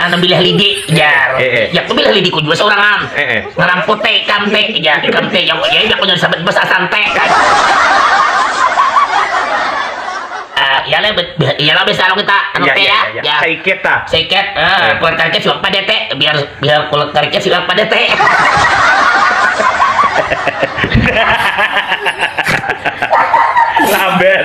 Anak bilah lidi jar. Eh, eh. Ya aku bilah lidi ku juga seorang Eh, eh. Ngeramput teh ikam teh ya ikam teh yang ya aku jadi sahabat besar santai. Ah, ya lah, ya lah besar kita anu ya, teh ya. Ya, ya. Seiket ta. Seiket, eh, eh. kulit kariknya siapa deh teh, biar biar kulit kariknya siapa deh teh. Sabar.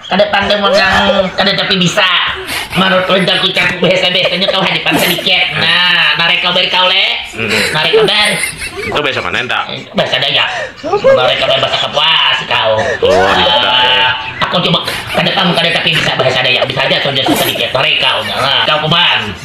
Kada pandai mun nang kada tapi bisa. Manurut ulun caku caku bahasa biasanya kawa hadipan sadikiat. Nah, narai kabar ikau le. Narai kabar. Itu bahasa mana enta? Bahasa dayak. Narai kabar bahasa kapuas ikau. Oh, iya. Ah, aku coba kada paham kada tapi bisa bahasa dayak. Bisa aja saja sadikiat narai kau. Nah, kau kuman.